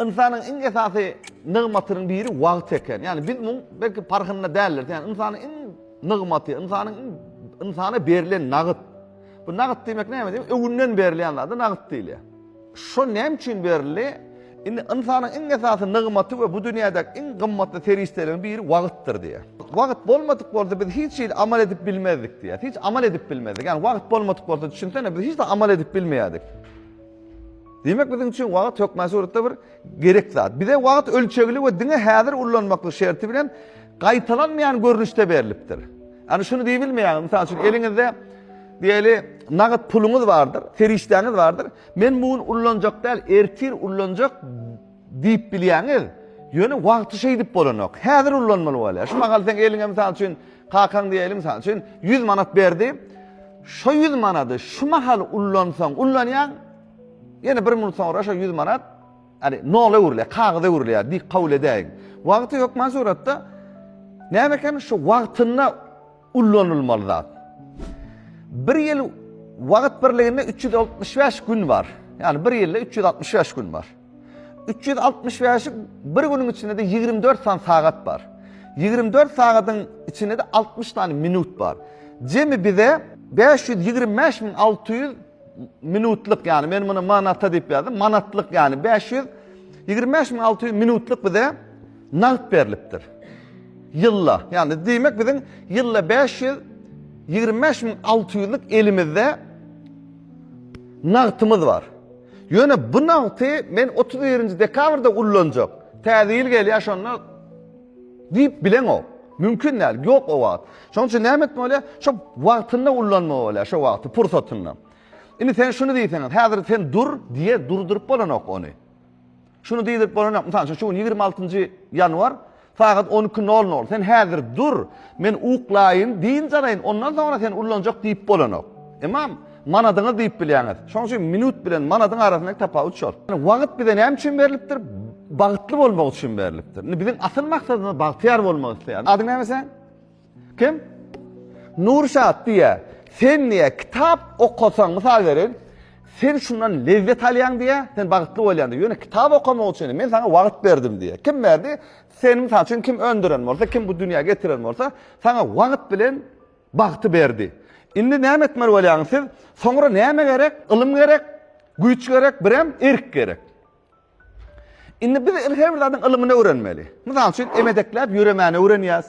Ynsanyň iň esasy nygmatynyň biri wagt eken. Ýagny biz muň belki parhynda däldiris. Ýagny ynsanyň iň nygmaty, ynsanyň iň ynsana berlen nagyt. Bu nagyt diýmek näme diýmek? Öwünden berilýän zada nagyt diýilýär. Şo näme üçin berildi? Indi ynsanyň iň esasy nygmaty we bu dünýädäki iň gymmatly serişdeleriň biri wagtdyr diýýär. Wagt bolmadyk bolsa biz hiç hili amal edip bilmezdik diýýär. Hiç amal edip bilmezdik. Ýagny wagt bolmadyk bolsa düşünsene biz hiç zat amal edip bilmeýärdik. Diýmek biziň üçin wagt hökmän suratda bir gerek zat. Bize wagt ölçegli we diňe häzir ullanmaklyk şerti bilen gaýtalanmaýan görnüşde berlipdir. Ýani şuny diýip bilmeýäňiz, mysal üçin eliňizde diýeli nagat puluňyz bardyr, serişdäňiz bardyr. Men bu gün ullanjak däl, ertir ullanjak diýip bilýäňiz. Ýöne wagty şeýdip bolanok. Häzir ullanmaly bolýar. Şu mahal sen eliňe mysal üçin kakaň diýeli mysal üçin 100 manat berdi. Şu 100 manady şu mahal ullansaň, ullanýaň. Ýene bir minut soňra şo ýüz manat ýani nola öwrülýär, kagyza öwrülýär diýip kabul edäýiň. Wagty hökman suratda näme eken şu wagtynda ullanylmaly zat. Bir ýyl wagt birliginde 365 gün bar. Ýani bir ýylda 365 gün bar. 365-i bir günüň içinde de 24 san sagat bar. 24 sagadyň içinde de 60 sany minut bar. Jemi bize 525.600 Minutlyk ýaly men muny manata diýip ýazdym. Manatlyk ýaly 525600 minutlyk bize nagt berlipdir. Ýylda, ýagny diýmek biziň ýylda 525600-lük elimizde nagtymyz bar. Ýöne bu nagty men 31-nji dekabrda ullanjak. Täze ýyl gelýär şonda Diýip bileňok. Mümkin däl. Ýok o wagt. Şonuň üçin näme etmeli bolýar? Şo wagtynda ullanmaly bolýar şo wagty, pursatynda. Indi sen şuny diýseňiz, häzir sen dur diýe durduryp bolanok ony. Şuny diýdirip bolanok. Mysal üçin şu gün 26-njy ýanwar sagat 12.00. Sen häzir dur, men uklaýyn, diýinjalaýyn, ondan soňra sen ullanjak diýip bolanok. Emma Manadyňyz diýip bilýäňiz. Şonuň üçin minut bilen manadyň arasyndaky tapawut şol. Ýani wagt bize näme üçin berlipdir? Bagtly bolmak üçin berlipdir. Indi biziň asyl maksadymyz bagtyýar bolmak isleýäris. Adyň näme sen? Kim? Nurşat diýä. Sen diýä kitap okasaň, mysal berin, sen şundan lezzet alýaň diýä, sen bagtly bolýaň diýä. Ýöne kitap okamak üçin men sana wagt berdim diýä. Kim berdi? Sen misal üçin kim öndüren bolsa, kim bu dünýä getiren bolsa, sana wagt bilen Bagty berdi. Indi näme etmeli bolýaňyz siz? Soňra näme gerek? Ylym gerek, güýç gerek, birem erk gerek. Indi biz her bir zadyň ylymyny öwrenmeli. Mysal üçin, emedekläp ýöremäni öwrenýäs.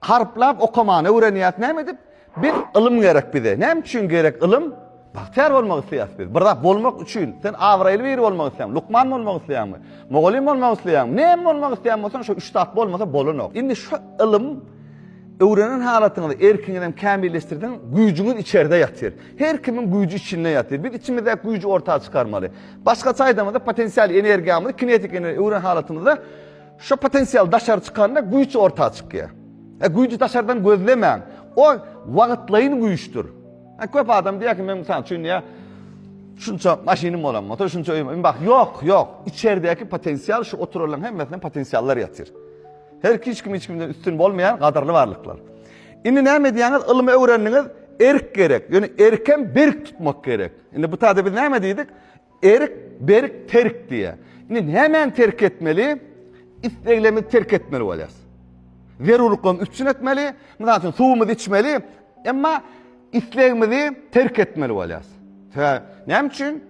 Harplap okamany öwrenýäs. Näme edip? Biz ylym gerek bize. Näme üçin gerek ylym? Bagtyýar bolmak isleýäs biz. Bir zat bolmak üçin sen abraýly biri bolmak isleýäň, lukman bolmak isleýäňmi? Mugallym bolmak isleýäňmi? Näme bolmak isleýän bolsaň şo üç zat bolmasa bolanok. Indi şu ylym öwrenen halatyňyzda erkiňizi hem kämilleşdirseň, güýjüňiz içerde ýatyr. Her kimiň güýji içinde ýatyr. Biz içimizdäki güýji orta çykarmaly. Başgaça aýdamyzda potensial energiýamyzy kinetik energiýa öwren halatymyzda şu potensial daşary çykanda güýç orta çykýar. E güýji daşardan gözlemäň. O wagtlaýyn güýçdür. Ha köp adam diýär ki, men mysal üçin diýär, şunça maşynym bolan bolsa, şunça öýüm. Indi bak, ýok, ýok. Içeridäki potensial şu oturanlaryň hemmesinde potensiallar ýatyr. Her hiç kim hiç kimden üstün bolmaýar, gadyrly barlyklar. Indi näme edýäňiz? Ylmy öwrendiňiz, erk gerek. Ýöne erkem berk tutmak gerek. Indi bu taýda biz näme diýdik? Erik, berik, terk diýýär. Indi nämäni terk etmeli? Isleglerimizi terk etmeli bolýarys. Zerurlyklarymy üpjün etmeli, mysal üçin suwumyzy içmeli, emma islegimizi terk etmeli bolýarys. Sebäbi näme üçin?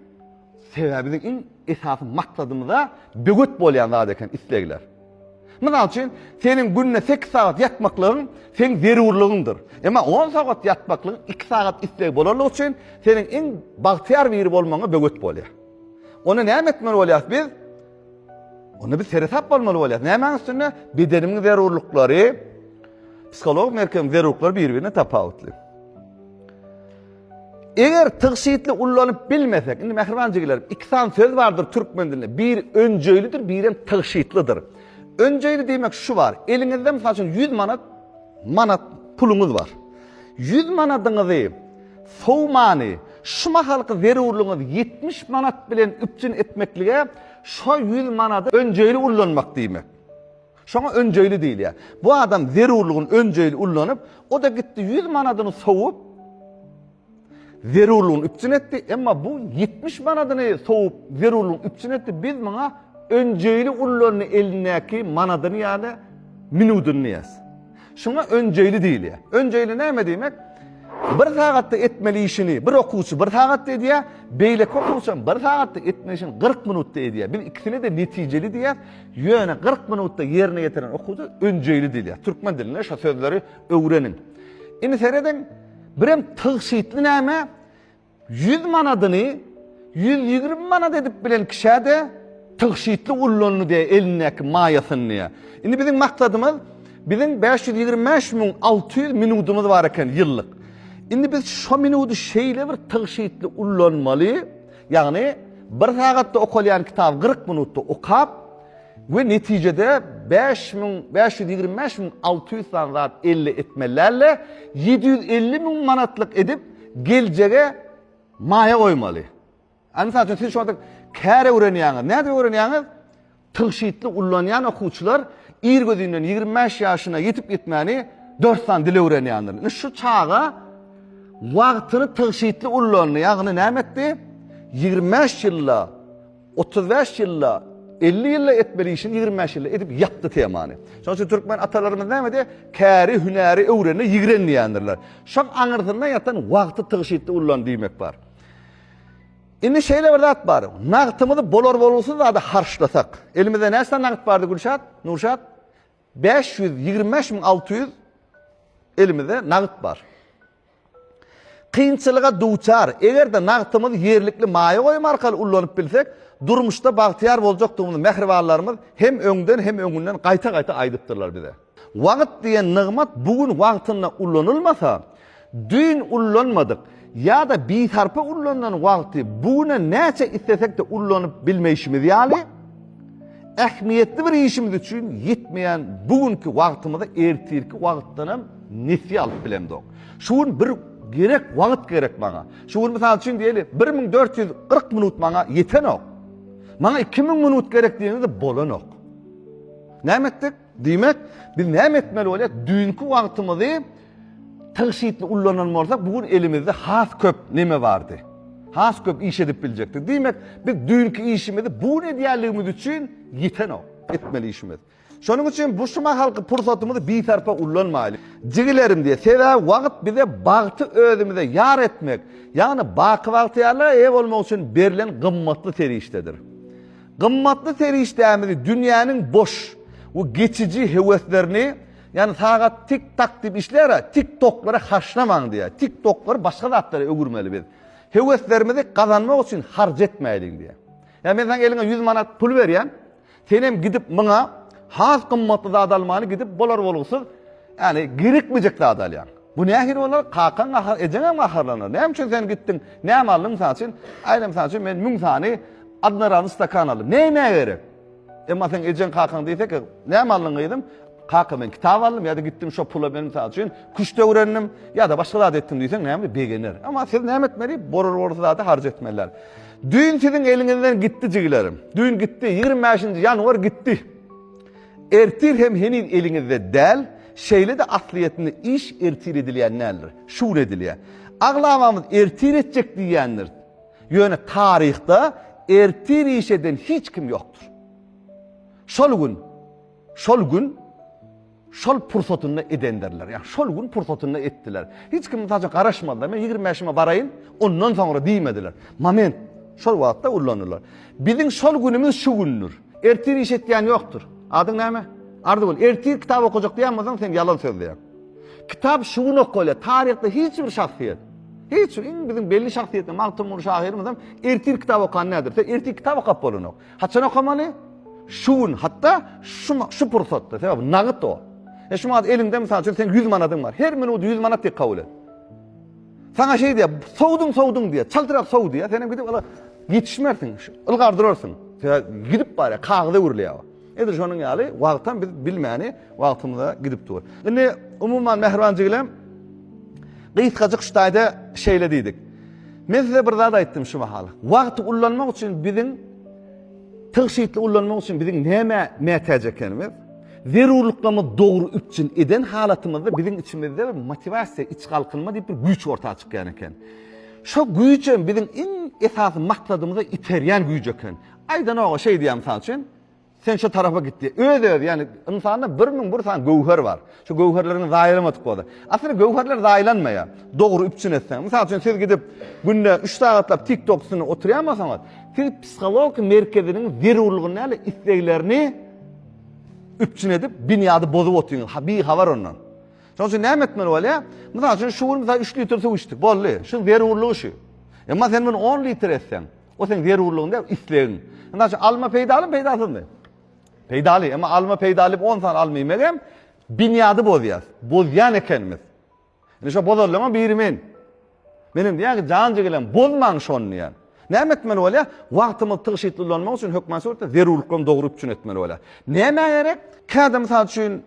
Sebäbi biziň iň esasy maksadymyza böwet bolýan zat eken islegler. Mysal üçin, seniň günde sekiz sagat ýatmaklygyň seniň zerurlygyňdyr. Emma on sagat ýatmaklygyň iki sagat üstegi bolanlygy üçin seniň iň bagtyýar biri bolmagyňa böwet bolýar. Onda näme etmeli bolýarys biz? Onda biz seresap bolmaly bolýarys. Nämäň üstünde? Bedenimiň zerurlyklary, psihologik merkeziň zerurlyklary bir-birinden tapawutly. Eger tygşytly ullanyp bilmesek, indi mähriban jigilerim, iki sany söz bardyr türkmen dilinde. Biri önjeýlidir, biri hem tygşytlydyr. Önjeýli diýmek şu bar. Eliňizde mysal üçin 100 manat manat puluňyz bar. 100 manadyňyzy sowmany şu mahalky zerurlygyňyz 70 manat bilen üpjün etmeklige şu 100 manady önjeýli ullanmak diýmek. Şoňa önjeýli diýilýär. Bu adam zerurlygyny önjeýli ullanyp, o-da gitdi ýüz manadyny sowup, zerurlygyny üpjün etdi, emma bu ýetmiş manadyny sowup, zerurlygyny üpjün etdi, biz muňa önjeýli ullandy elindäki manadyny ýa-da minudyny diýýäs. Şuňa önjeýli diýilýär. Önjeýli näme diýmek? Bir sagatda etmeli işini bir okuwçy bir sagatda edýär, beýleki okuwçy hem bir sagatda etmeli işini 40 minutda edýär. Biz ikisini-de netijeli diýýäs. Ýöne 40 minutda ýerine ýetiren okuwça önjeýli diýilýär. Türkmen dilinde şu sözleri öwreniň. Indi serediň, birem tygşytly näme? Ýüz manadyny ýüz ýigrimi manat edip bilen kişä-de tygşytly ullandy diýýär elindäki maýasyny diýýär. Indi biziň maksadymyz, biziň bäş ýüz ýigrimi bäş müň alty ýüz minudymyz bar eken ýyllyk. Indi biz şo minudy şeýle bir tygşytly ullanmaly, ýagny bir sagatda okalýan kitaby kyrk minutda okap, We netijede bäş müň bäş ýüz ýigrimi bäş müň alty ýüz sany zat elde etmelilerle ýedi ýüz elli müň manatlyk edip geljege maýa goýmaly. Ä mysal üçin siz şonda kär öwrenýäňiz. Nädip öwrenýäňiz? Tygşytly ullanýan okuwçylar ir gözünden ýigrimi bäş ýaşyna ýetip ýetmäni dört sany dil öwrenýändir. Indi şu çaga wagtyny tygşytly ullandy. Ýagny näme etdi? Ýigrimi bäş ýylda Otuz bäş ýylda, elli ýylda etmeli işini ýigrimi bäş ýylda edip ýapdy temany. Şonuň üçin türkmen atalarymyz näme diýýär? Käri hünäri öwrende ýigren diýýändirler. Şoň aňyrsynda ýatan wagty tygşytly ullan diýmek bar. Indi şeýle bir zat bar. Nagtymyzy bolar-bolgusyz zada harçlasak. Elimizde näçe nagt bardy Gülşat? Nurşat? Bäş ýüz ýigrimi bäş müň alty ýüz elimizde nagt bar. Kynçylyga duçar, eger-de nagtymyzy ýerlikli maýa goýum arkaly ullanyp bilsek, durmuşda bagtyýar boljakdygymyzy mähribanlarymyz hem öňden hem öňünden gaýta-gaýta aýdypdyrlar bize. Wagt diýen nygmat bu gün wagtynda ulanylmasa, düýn ullanmadyk ýa-da bisarpa ullanylan wagty bu güne näçe islesek-de ullanyp bilmeýşimiz ýaly, Ähmiýetli bir işimiz üçin ýetmeýän bu günki wagtymyza ertirki wagtdan hem nesýe alyp bilemzok. Şu gün bir gerek wagt gerek maňa. Şu gün mysal üçin diýeli, bir müň dört ýüz kyrk minut maňa ýetenok. Maňa iki müň minut gerek diýeniňizde bolanok. Näme etdik? Diýmek, biz näme etmeli bolýar? Düýnki wagtymyzy tygşytly ullanan bolsak, bu gün elimizde has köp neme bardy? Has köp iş edip biljekdik. Diýmek, biz düýnki işimizi bu gün edýänligimiz üçin ýitenok, etmeli işimiz. Şonuň üçin bu şu mahalky pursatymyzy bisarpa ullanmaýly. Jigilerim diýe, sebäbi wagt bize bagty özümize ýar etmek, ýagny baky bagtyýarlyga eýe bolmak üçin berlen gymmatly serişdedir. Gymmatly serişdämizi dünýäniň boş we geçiji höweslerini, ýagny sagat tik-tak diýip işlär-ä, tik-toklara harçlamaň diýýär. Tik-toklary başga zatlara öwürmeli biz. Höweslerimizi gazanmak üçin harç etmäýliň diýýär. Ýa men saňa eliňe ýüz manat pul berýän, senem gidip muňa has gymmatly zat almaly gidip bolar bolgusyz, ýagny gerekmejek zat alýaň. Bu nähili bolar? Kakaň gahar, ejeňem gaharlanar. Näme üçin sen gitdiň? Näme aldyň mysal üçin? Aýda mysal üçin men müň sany adnaralny stakan aldym. Näme gerek? Emma sen ejeň kakaň diýse ki, näme aldyň gyzym? Kaka men kitap aldym ýa-da gitdim şo pula men mysal üçin küşt öwrendim ýa-da başga zat etdim diýseň näme begener. Emma siz näme etmeli? Borur borur zady harç etmeliler. Düýn siziň eliňizden gitdi jigilerim. Düýn gitdi, 25-nji ýanwar gitdi. Ertir hem heniz eliňizde däl, şeýle-de aslyýetinde iş ertir edilýän däldir, şu gün edilýär. Aglabamyz ertir etjek diýýändiris. Ýöne taryhda ertir iş eden hiç kim ýokdur. Şol gün, şol gün şol pursatynda edendirler. Ýa şol gün pursatynda etdiler. Hiç kim mysal üçin garaşmazlar. Men 25-ime baraýyn, ondan soňra diýmediler. Moment şol wagtda ullanylar. Biziň şol günümiz şu gündür. Ertir iş etýän ýokdur. Adyň näme? Arzygül. Ertir kitap okajak diýen bolsaň, sen ýalan sözleýäň. Kitap şu gün okalýar. Taryhda hiç bir şahsyýet, hiç iň biziň belli şahsyýetli Magtymguly şahyrymyz hem ertir kitap okan näder? Sen ertir kitap okap bolanok. Haçan okamaly? Şu gün, hatda şu şu pursatda. Sebäbi nagyt o. E şu wagt eliňde mysal üçin seň 100 manadyň bar. Her minut 100 manat diýip kabul et. Saňa şeý diýýär, sowduň, sowduň diýýär, çaltrak sow diýýär, sen hem gidip ala ýetişmersiň, ylgar durarsyň. Sebäbi gidip barýar, kagyz öwrülýär. Edil şonuň ýaly wagtam biz bilmäni wagtymyza gidip dur. Indi umuman mähriban jigilem gysgajyk şu taýda şeýle diýdik. Men size bir zat aýtdym şu mahal. Wagty ullanmak üçin biziň tygşytly ullanmak üçin biziň näme mätäç ekenimiz? Zerurlyklarymyzy dogry üpjün eden halatymyzda biziň içimizde bir motiwasiýa, iç galkynma diýip bir güýç orta çykýan eken. Şo güýjem biziň iň esasy maksadymyza iterýän güýç eken. Aýdanoga şeý diýýär mysal üçin, Sen şo tarapa git diýýär. Öz-özi, ýagny ynsanda bir müň bir sany göwher bar. Şo göwherleriňi zaýalamadyk bolsa. Aslynda göwherler zaýalanmaýar, dogry üpjün etseň. Mysal üçin siz gidip günde üç sagatlap TikTok üstünde oturýan bolsaňyz, siz psihologik merkeziniň zerurlygyny däl-de isleglerini üpjün edip binýady bozup otyň ha bi habar ondan. Şoň üçin näme etmeli bolýa? Mysal üçin şu gün mysal 3 litr suw içdik. Boldy. Şu zerurlygy şu. Emma sen muny 10 litr etseň, o sen zerurlygyň däl, islegiň. Mysal üçin alma peýdaly, peýdasyzmy? Peýdaly, emma alma peýdaly 10 sany alma iýmek hem binýady bozýar. Bozýan ekenimiz. Indi şo bozanlaryň biri men. Menem diýýän ki, jan jigilem, bozmaň şony diýýän. Näme etmeli bolýar? Wagtymyzy tygşytly ulanmak üçin hökman suratda zerurlyklaryny dogry üpjün etmeli bolýar. Nämä gerek? Käte mysal üçin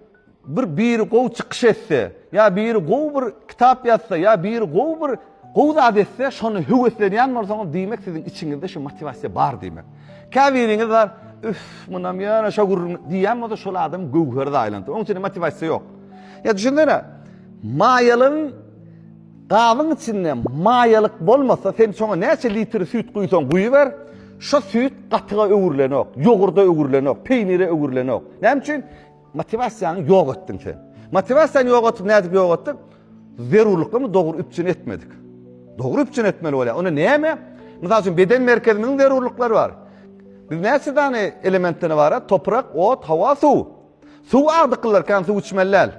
bir biri gowy çykyş etse, ýa biri gowy bir kitap ýazsa, ýa biri gowy bir gowy zat etse, şony höweslenýän bolsaňyz, diýmek siziň içiňizde şu motiwasiýa bar diýmek. Käbiriňiz bar, üf, munam ýöne şo gürrüň diýýän bolsa, şol adam göwher zaýalandy. Onuň üçin motiwasiýa ýok. Ya düşünsene, maýalygyň gabyň içinde maýalyk bolmasa, sen şoňa näçe litr süýt guýsaň guýuber, şo süýt gatyga öwrülenok, ýogurda öwrülenok, peýnire öwrülenok. Näme üçin? Motiwasiýaňy ýok etdiň sen. Motiwasiýany ýok etdik, nädip ýok etdik? Zerurlyklamy dogry üpjün etmedik. Dogry üpjün etmeli bolýar. Onda näme? Mysal üçin beden merkeziniň zerurlyklary bar. Biz näçe dany elementden ibarat? Toprak, ot, hawa, suw. Suw az dykylar kän suw içmeli däl.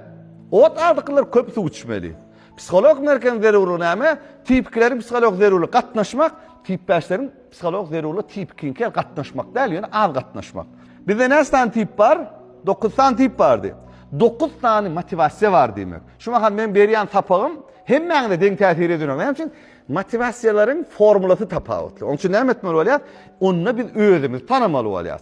Ot az dykylar köp suw içmeli. Psiholog merkeziň zerurlygy näme? Tipikileriň psiholog zerurlygy gatnaşmak, tipbäşleriň psiholog zerurlygy tipikiňki gatnaşmak däl, ýöne az gatnaşmak. Bizde näçe sany tip bar? 9 sany tip bardy. 9 sany motiwasiýa bar diýmek. Şu mahal men berýän sapagym hemmäňize deň täsir edýär. Näme üçin? Motiwasiýalaryň formulasy tapawutly. Onuň üçin näme etmeli bolýar? Onda biz özümizi tanamaly bolýar.